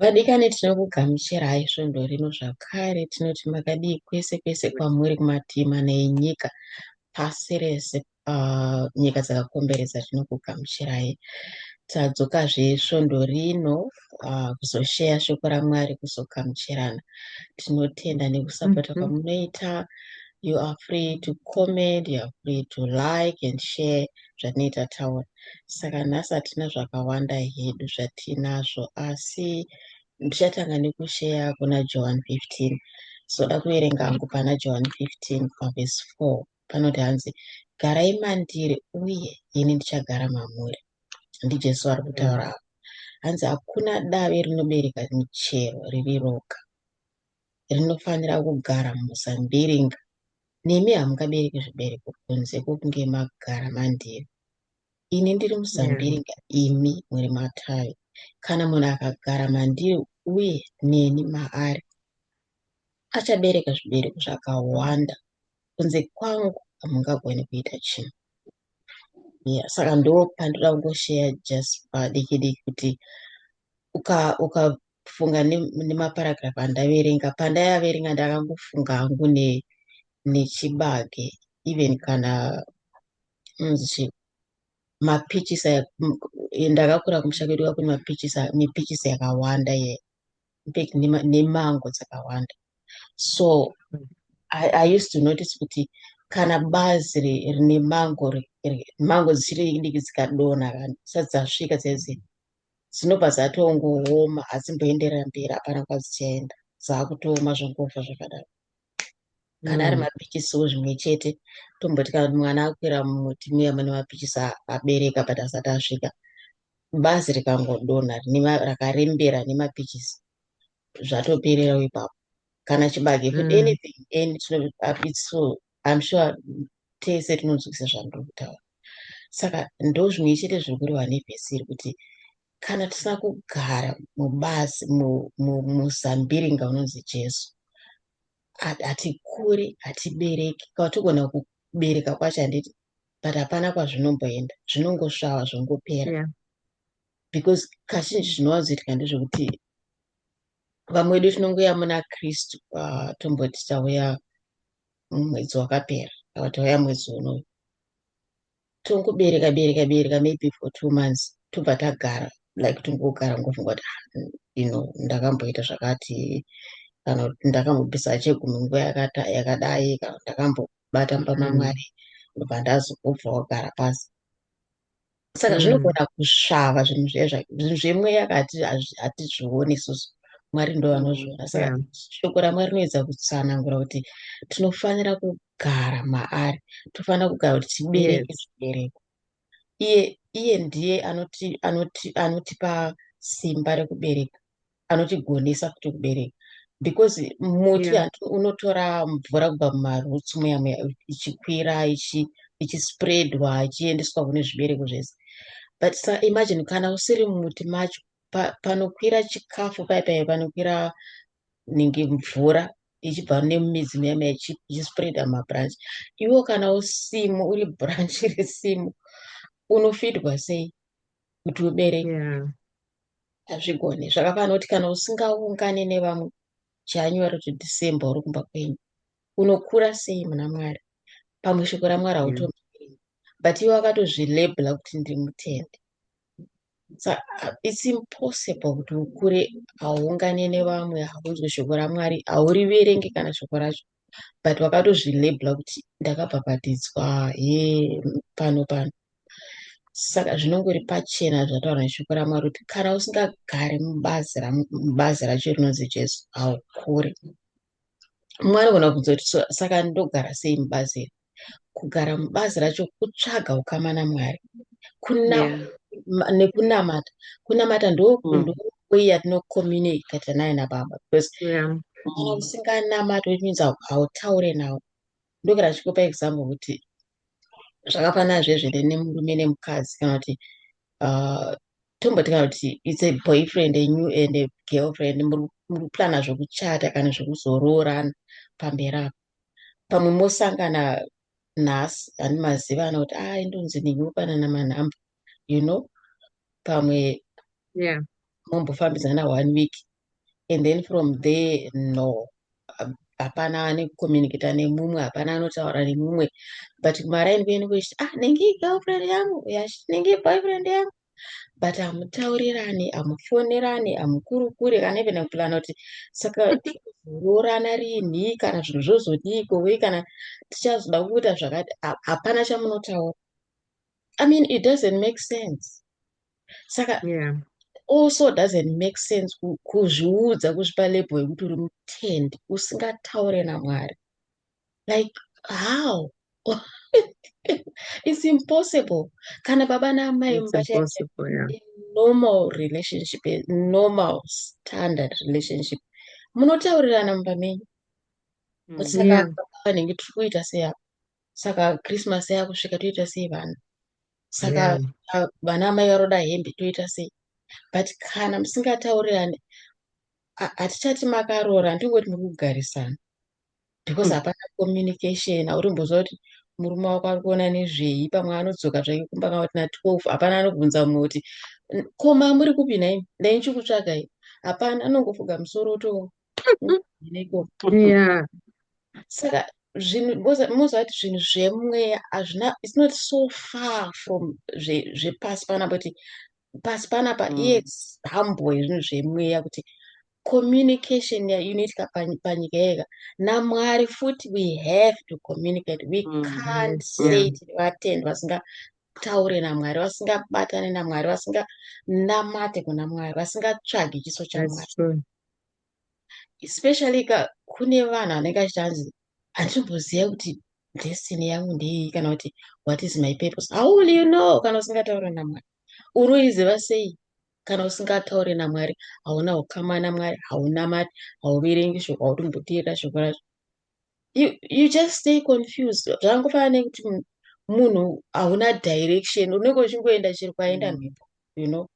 Vadikani tinokugamuchirai svondo rino zvakare tinoti makadii kwese kwese kwamuri kumativi mana enyika pasi rese uh, nyika dzakakomberedza tinokugamuchirai tadzokazve svondo rino uh, kuzosheya shoko ramwari kuzogamuchirana tinotenda nekusapota mm -hmm. kwamunoita you are free to comment you are free to like and share zvatinenge tataura saka nhasi hatina zvakawanda hedu zvatinazvo asi ndichatanga nekusheya kuna johan 15 soda kuverenga hangu pana johan 15 pavhesi 4 panoti hanzi garai mandiri uye ini ndichagara mamuri ndijesu ari kutaura avo hanzi hakuna dave rinobereka michero riri roga rinofanira kugara muzambiringa nemi hamungabereki zvibereko kunze kwokunge magara mandiri ini ndiri muzambiringa imi muri matavi kana munhu akagara mandiri uye neni maari achabereka zvibereko zvakawanda kunze kwangu hamungagoni kuita chinhu yeah, saka ndo pandinoda kungosheya just padiki diki kuti uka uka kufunga nemaparagraph andaverenga pandayaverenga ndakangofunga hangu ne nechibage even kana nzi mapichisa ndakakura kumusha kwedu kakune mapichisa mipichisa yakawanda ye infact nemango dzakawanda so I, i used to notice kuti kana bazi rine mango mango dzichiri diki dzikadonha vanhu sadzasvika dzaizi dzinobva dzatongooma hadzimboenderera mberi hapana kwadzichaenda dzakutooma zvongofa zvakadaro kana ari mm. mapichisiwo zvimwe chete tomboti kana kuti mwana akwira mumuti muya mune mapichisi abereka but asati asvika bazi rikangodonha rakarembera nemapichisi zvatoperera ipapo kana chibage mm. anything and it's so I'm sure tese tinonzwisisa zvandiri kutaura saka ndozvimwe chete zviri kureva nevhesi iri kuti kana tisina kugara mubazi muzambiringa unonzi jesu hatikuri hatibereki ka togona kubereka kwacho handiti but hapana kwazvinomboenda zvinongosvava zvongopera yeah. because kazhinji zvinowanzoitika ndezvekuti vamwe vedu tinongoya muna kristu uh, tomboti tauya mwedzi wakapera vakati vauya mwedzi unoyu tongobereka bereka bereka maybe for two months tobva tagara like tongogara ngofunga kuti ah, you know ndakamboita zvakati kana kuti ndakambobvisa chegumi nguva yakadai kana ndakambobata mbamamwari mm. ndobva ndazobva wagara pasi saka mm. zvinogona kusvava zvinhu zvinhu zvemweya kati hatizvioni isusu mwari ndo vanozviona saka yeah. shoko ramwari rinoedza kutsanangura kuti tinofanira kugara maari tofanira kugara kuti tibereke yes. zvibereko iye iye ndiye anotipa anoti, anoti simba rekubereka anotigonesa futi kubereka because muti yeah. unotora mvura kubva mumarutsi muya muya ichikwira ichispreadwa ichiendeswa kune zvibereko zvese but sa imagine kana usiri mumuti macho pa, panokwira chikafu paye paye panokwira ninge mvura ichibva nemumidzi muya muya ichispreada mabranch iwo kana usimu uri branch resimu unofidwa sei kuti ubereke yeah. hazvigone zvakafanira kuti kana usingaungane nevamwe january to december uri kumba kwenyu unokura sei muna mwari pamwe shoko ramwari mm. hauto mm. but iwe akatozvilabela kuti ndiri mutende so uh, it's impossible kuti ukure hauungane nevamwe haunzwe shoko ramwari hauriverenge kana shoko racho but vakatozvilabela kuti ndakabhabhatidzwa he pano pano saka zvinongori pachena zvataura neshoko ramwari kuti kana usingagari mubazi racho rinonzi jesu haukuri mwari gona kubvunza kuti saka ndogara sei mubazi iri kugara mubazi racho kutsvaga ukama namwari kuna yeah. nekunamata kunamata ndokuiya mm. yatinocomunicata naye nababa because yeah. kana usinganamati which means hautaure nawo ndokera chikupa example kuti zvakafanana zvezvere nemurume nemukadzi kana kuti uh, tomboti kana kuti its a boyfriend anew and a girlfriend muri kuplana zvekuchata kana zvekuzoroorana pamberi apo pamwe mosangana nhasi ani maziva ana kuti ah indonzi ningi mopanana manhamba you know pamwe yeah. mombofambidzana one week and then from there no hapana ane kucommunicata nemumwe hapana anotaura nemumwe but kumaraini kuende kuchiti ah nengi girlfriend yangu yash nengi boyfriend yangu but hamutaurirani hamufonerani hamukurukuri kana even kupulana kuti saka roorana rinhi kana zvinhu zvozodii kovei kana tichazoda kuita zvakati hapana chamunotaura i mean it doesn't make sense saka yeah. also doesn't make sense kuzviudza kuzvipa label yekuti uri mutendi usingataure namwari like how it's impossible kana baba naamai normal relationship normal standard relationship munotaurirana mumba menyu mm, saka vanenge tiri kuita sei apa saka christmas yakusvika toita sei vana saka vana amai varoda hembe toita sei but kana musingataurirane hatichati makaroora ndingoti muri kugarisana because hmm. hapana communication haurimbozva kuti murume wako ari kuona nezvei pamwe anodzoka zvake kumba kana kuti na12 hapana anobvunza mumwe kuti koma muri kupi nhai ndai ndichikutsvakai hapana anongofuga musoro to yeah. saka zvinhu mozvati zvinhu zvemweya hazvina its not so far from zvepasi panapa kuti pasi panapa mm. yes hamboe zvinhu zvemweya kuti communication ya inoitika pani- panyika yega namwari futi we have to communicate we Mhm. can't say Yeah. tiri vatendi vasingataure namwari vasingabatane namwari vasinganamate kuna mwari vasingatsvagi chiso chamwari That's true. especially ka kune vanhu vanenge achiti hanzi handitomboziva kuti destiny yangu ndeiyi kana kuti what is my purpose how will you know kana usingataure namwari unoiziva sei kana usingataure namwari hauna ukama namwari haunamati hauverengi shoko hautomboteera shoko racho you, you just stay confused zvangofanana nekuti munhu hauna direction unenge uchingoenda chiri kwaenda mm. mhepo you know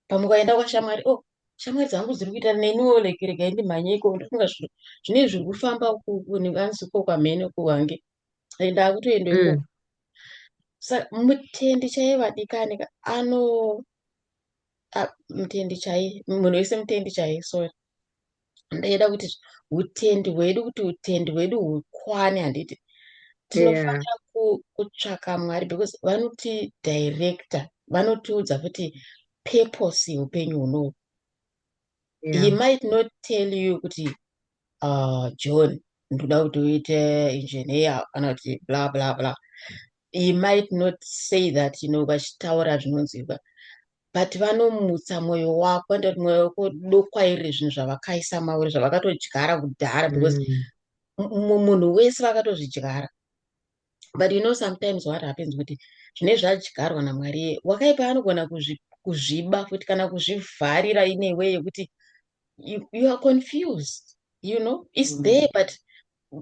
pamwe kwaenda kwashamwari o oh, shamwari dzangu dziri kuita neniwo like rega ndimhanye iko ndofunga zvino zvine zviri kufamba uku ndinganzi ko kwamhene uku wange and akutoenda ikoko mm. sa mutendi chaiye vadikani ano mutendi chaiye munhu wese mutendi chaiye sorry ndaida kuti utendi hwedu kuti utendi hwedu hukwane handiti tinofanira kutsvaka mwari because vanoti director vanotiudza kuti purpose yeupenyu hunohu yeah. he might not tell you kuti uh, john ndoda kuti uite engineer kana kuti bla bla bla he might not say that you know vachitaura zvinonzwikwa but vanomutsa mwoyo wako ndoti mwoyo wako dokwairire zvinhu zvavakaisa mauri zvavakatodyara kudhara because mm. munhu wese vakatozvidyara but you know sometimes what happens kuti zvine zvadyarwa namwari wakaipa anogona kuzviba futi kana kuzvivharira ine way yekuti you, you are confused you know its mm. there but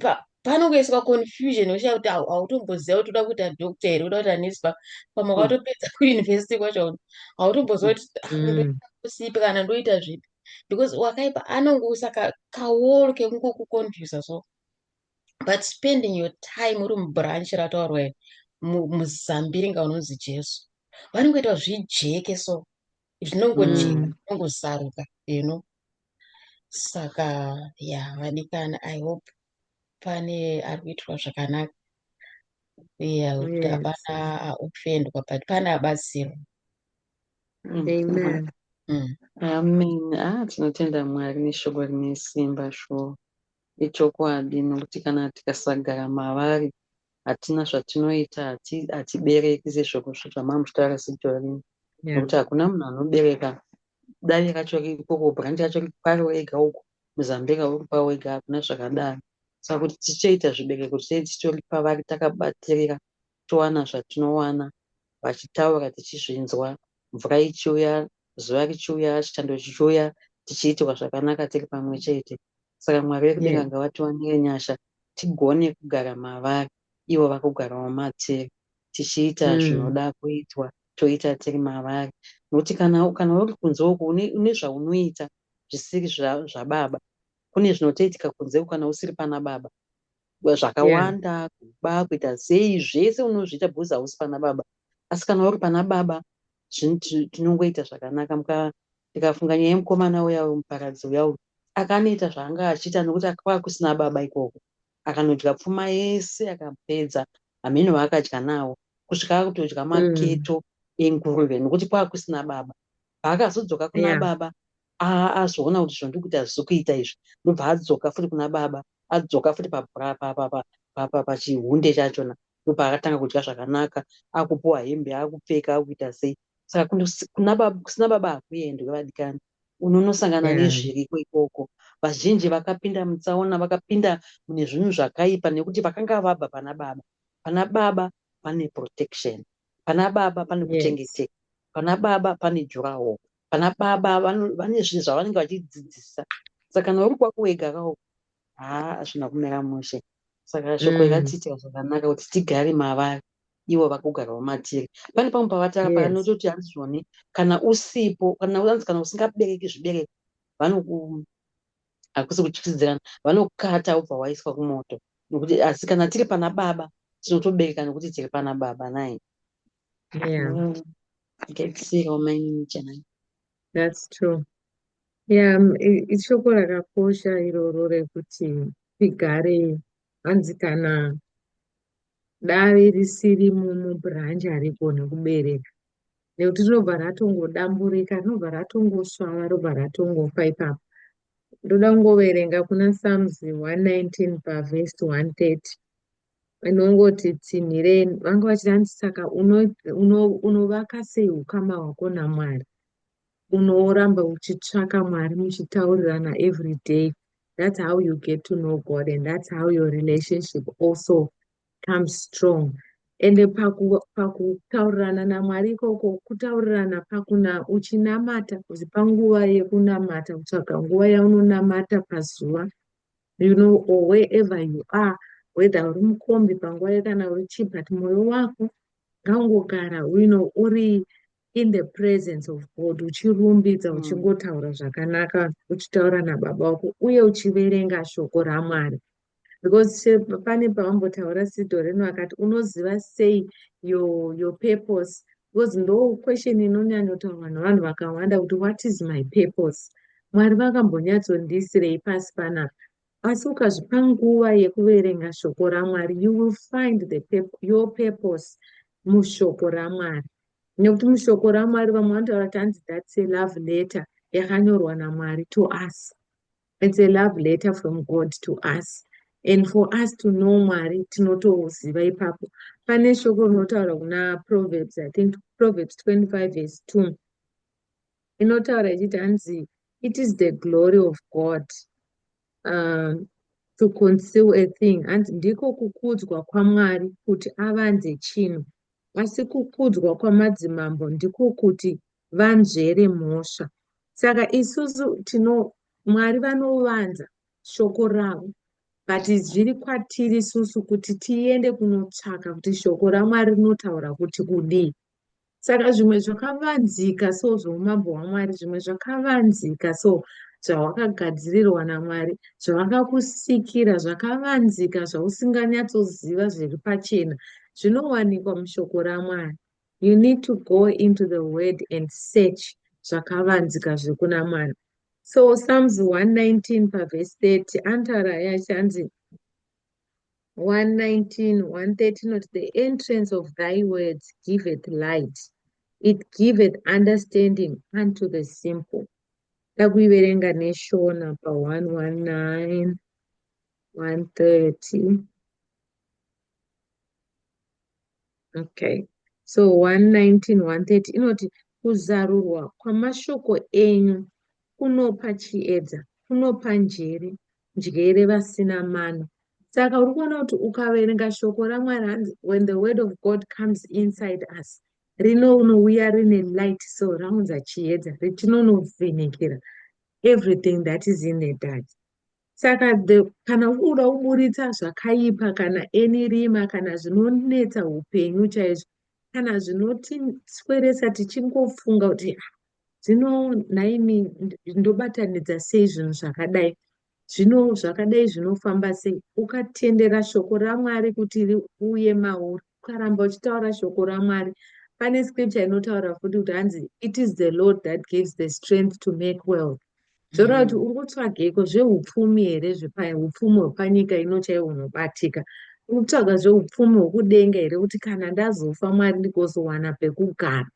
pa, panongoiswa confusion uchiya kuti hautomboziva kuti uda kuita doctor here uda kuita nes pamwe kwatopedza mm. kuuniversity kwacho hautomboziva kuti ah, mm. kusipi kana ndoita zvipi because wakaipa anongousa kaoro kekungokuconfusa so but spending your time uri mubranch rataurwa muzambiringa unonzi jesu vanongoita zvijeke so zvinongojeka mm. zvinongosaruka you know saka ya vadikana i hope pane ari kuitwa zvakanaka ya kuti hapana ofendwa but pane abatsirwa mm. amen mm. amen ah tinotenda mwari neshoko rine simba shuwa Ichokwadi nokuti kana tikasagara mavari hatina zvatinoita hatibereki sezvamamuchitaura sejolini nokuti hakuna munhu anobereka davi racho riri ikoko branch yacho riri pari wega uko muzambira uri pa wega hakuna zvakadaro saka kuti tichaita zvibereko tichei titori pavari takabatirira towana zvatinowana vachitaura tichizvinzwa mvura ichiuya zuva richiuya chitando chichiuya tichiitirwa zvakanaka tiri pamwe chete saka mwari vekudenga ngavatiwanire nyasha tigone kugara mavari ivo vakugarawo matiri tichiita mm. zvinoda kuitwa toita tiri mavari nokuti kana kana uri kunze uku une zvaunoita zvisiri zvababa kune zvinotoitika kunze uku kana usiri pana baba zvakawanda yeah. kuba kuita sei zvese unozviita because hausi pana baba asi kana uri pana baba tinongoita zvakanaka muka ndikafunga nyaya yemukomana uya uyu muparadzi uya uyu akanoita zvaanga achiita nokuti akava kusina baba ikoko akanodya pfuma yese akapedza hameno vaakadya nawo kusvika akutodya mm. maketo mm. enguruve nokuti kwava kusina baba paakazodzoka kuna yeah. baba Haa azoona kuti zvandiri kuita hazvisi kuita izvi ndobva adzoka futi kuna baba adzoka futi pachihunde chachona ndopaakatanga kudya zvakanaka akupuwa hembe akupfeka akuita sei saka kusina baba hakuendwe vadikani unonosangana nezviriko ikoko vazhinji vakapinda mutsaona vakapinda mune zvinhu zvakaipa nekuti vakanga vabva pana baba pana baba pane protection pana baba pane kuchengeteka pana baba pane juraho vana baba vane zvinhu zvavanenge vachidzidzisa saka kana uri kwako wega kawo haa hazvina kumira mushe saka shoko mm. rakatiitira zvakanaka kuti tigare mavari ivo vakugara vamatiri pane pamwe pavatara yes. paanototi hanzizvoni kana usipo kana anzi kana usingabereki zvibereko vanoku hakusi kutyisidzirana vanokata ubva waiswa kumoto nokuti asi kana tiri pana baba tinotobereka nokuti tiri pana baba nai yeah mm. akaitsirewo mainini chanai that's true yeah um, ishoko rakakosha iroro rekuti tigare hanzi kana dare risiri mubranch harigone kubereka nekuti rinobva ratongodamburika rinobva ratongosvava robva ratongofa ipapo ndoda kungoverenga kuna psalms 119 pavhesi 130 vanongoti tsinhireni vanga vachiti hanzi saka unovaka uno, sei ukama hwako namwari unoramba uchitsvaka mwari muchitaurirana every day that's how you get to know god and that's how your relationship also comes strong ende pakutaurirana paku namwari ikoko kutaurirana pakuna uchinamata uzipa nguva yekunamata kutsvaga nguva yaunonamata pazuva you know or wherever you are whether uri mukombi panguva ye kana uri chii but mwoyo wako ngaungogara you know uri in the presence of god uchirumbidza mm. uchingotaura zvakanaka uchitaura nababa wako uye uchiverenga shoko ramwari because pane pavambotaura sido rino akati unoziva sei your, your purpose Because ndo question inonyanyotaurwa navanhu vakawanda kuti what is my purpose? Mwari vakambonyatsondiisirei pasi panapa? Asi ukazvipa nguva yekuverenga shoko raMwari, you will find the pep your purpose mushoko raMwari. Nekuti mushoko raMwari vamwe vanotaura kuti hanzi that's a love letter yakanyorwa naMwari to us. It's a love letter from God to us and for us to know Mwari tinotoziva ipapo. Pane shoko rinotaura kuna Proverbs, I think Proverbs 25 verse 2. Inotaura ichiti hanzi it is the glory of God um, to conceal a thing. Hanzi ndiko kukudzwa kwaMwari kuti avanze chinhu. Asi kukudzwa kwamadzimambo ndiko kuti vanzvere mhosva. Saka isusu tino Mwari vanovanza shoko ravo but zviri kwatiri isusu kuti tiende kunotsvaka kuti shoko raMwari rinotaura kuti kudii. Saka zvimwe zvakavanzika so zvoumambo hwaMwari, zvimwe zvakavanzika so zvawakagadzirirwa naMwari, zvavakakusikira zvakavanzika zvausinganyatsoziva zviri pachena zvinowanikwa mushoko raMwari. You need to go into the word and search zvakavanzika zvekuna mwana. So Psalms 119 paverse 30 antara yachanzi 119, 130 not the entrance of thy words giveth light. It giveth understanding unto the simple. Takuiverenga neshona pa 119, 130. okay so 119 130 inoti kuzarurwa kwamashoko enyu kunopa chiedza kunopa njere njere vasina mano saka uri kuona kuti ukaverenga shoko ramwari hanzi when the word of god comes inside us rinouya rine light so raunza chiedza richinonovhenekera everything that is in the dark Saka the, kana ukuda kuburitsa zvakaipa kana eni rima kana zvinonetsa upenyu chaizvo kana zvinotisweresa tichingofunga kuti ah, zvino nhaimi ndobatanidza sei zvinhu zvakadai zvino zvakadai zvinofamba sei ukatendera shoko ramwari kuti riuye mauri Ukaramba uchitaura shoko raMwari pane scripture inotaura futi kuti hanzi it is the Lord that gives the strength to make wealth. Zvoreva kuti uri kutsvageiko zveupfumi here zveupfumi hwepanyika ino chaiwo unobatika. Uri kutsvaga zveupfumi hwokudenga here kuti kana ndazofa Mwari ndigozowana pekugara.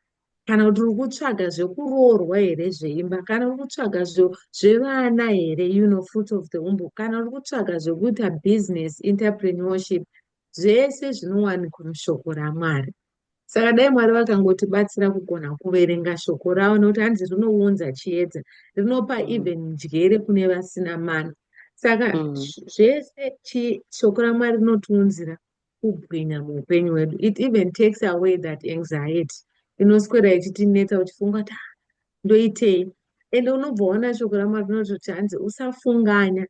Kana kuti uri kutsvaga zvekuroorwa here zveimba kana uri kutsvaga zvevana here you know fruit of the womb kana uri kutsvaga zvekuita business entrepreneurship zvese zvinowanikwa mushoko raMwari. Saka dai Mwari vakangotibatsira kugona kuverenga shoko ravo nekuti hanzi rinounza chiedza, rinopa mm. even njere kune vasina mana. Saka mm. zvese shoko raMwari rinotiunzira kubwinya muupenyu hwedu. It even takes away that anxiety inoswera ichitinetsa uchifunga kuti ah, ndoitei ende unobva waona shoko ramwari rinototi hanzi usafunganya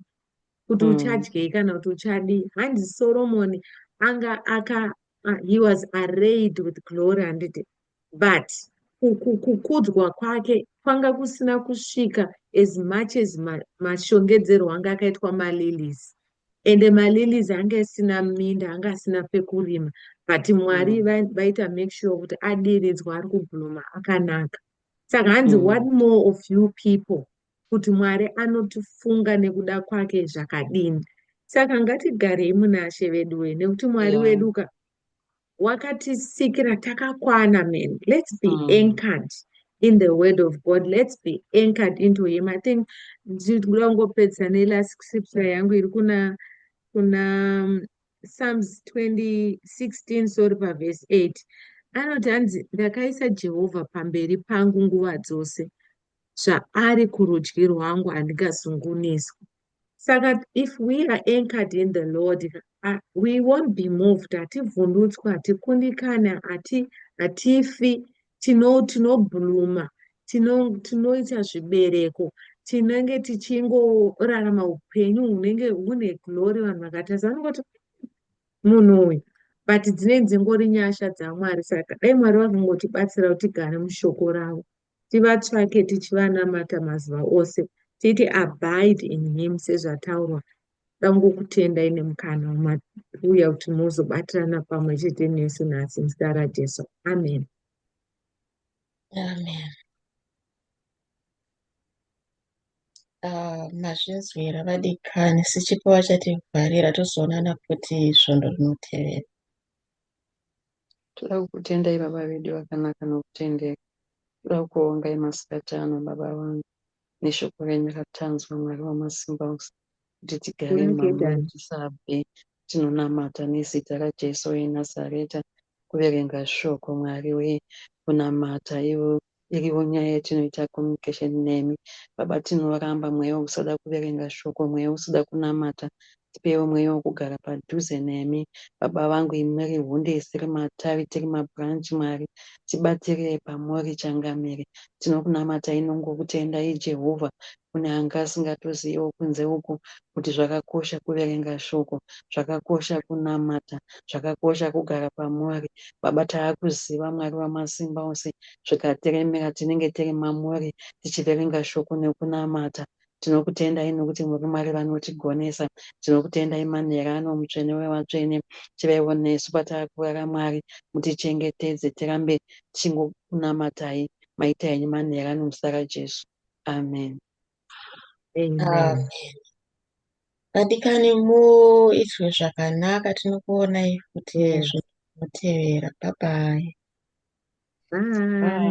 kuti mm. uchadyei kana kuti uchadii hanzi soromoni anga aka uh, he was arrayed with glory handiti but kukudzwa kwake kwanga kusina kusvika as much as mashongedzero ma anga akaitwa malilies ende malilies anga asina minda anga asina pekurima but mwari mm. vaita mm. make sure kuti adiridzwa ari kubhuluma akanaka saka hanzi mm. what more of you people kuti Mwari anotifunga nekuda kwake zvakadini. Saka ngatigarei muna She veduwe nekuti Mwari yeah. wedu ka wakatisikira takakwana man. Let's be mm. anchored in the word of God. Let's be anchored into him. I think ndikuda kungopedza nelast scripture yangu iri kuna kuna um, Psalms 2016 sorry paverse 8 anoti hanzi ndakaisa Jehovha pamberi pangu nguva dzose zvaari kurudyi rwangu handingazunguniswi saka if we are anchored in the lord uh, we won't be moved hativhundutswi hatikundikani hatifi tinobluma tino tinoita tino zvibereko tinenge tichingorarama upenyu hunenge hune glory vanhu vakatarisa vanongoti munhu uyu but dzinenge dzingori nyasha dzamwari saka dai mwari vakangotibatsira kuti tigare mushoko ravo tivatsvake tichivanamata mazuva ose, titi abide in him sezvataurwa, ndoda kungokutendai nemukana wamauya kuti muzobatirana pamwe chete nesu nhasi muzita raJesu. Amen. Amen. Ah, mazvinzwira vadikani sichipo vachativharira tozoonana futi svondo rinotevera Toda kukutendai baba vedu vakanaka nokutendeka. Toda kukuongai masikati ano baba vangu neshoko renyu ratanzwa Mwari wamasimba ose kuti tigare mumamuri tisabve. Tinonamata nezita raJesu weNazareta kuverenga shoko Mwari wee kunamata ivo Iriwo nyaya yatinoita communication nemi baba tinoramba mweya wekusada kuverenga shoko mweya wekusada kunamata tipeiwo mweya wekugara padhuze nemi baba vangu imi muri hunde isiri matavi tiri mabranch mwari tibatirei pamuri changamire tinokunamatai nongokutendai jehovha kune anga asingatoziviwo kunze uku kuti zvakakosha kuverenga shoko, zvakakosha kunamata, zvakakosha kugara pamuri. Baba taakuziva Mwari wamasimba ose zvikatiremera tinenge tiri mamuri tichiverenga shoko nekunamata. Tinokutendai nokuti muri Mwari vanotigonesa. Tinokutendai manhera ano mutsvene wevatsvene. Chivaiwo nesu pataakurara Mwari mutichengetedze tirambe tichingokunamatai maita henyu manhera ano muzita raJesu. Amen. Amen. Vadikani muitwe zvakanaka tinokuonai futi zvinotevera. Bye bye. Bye.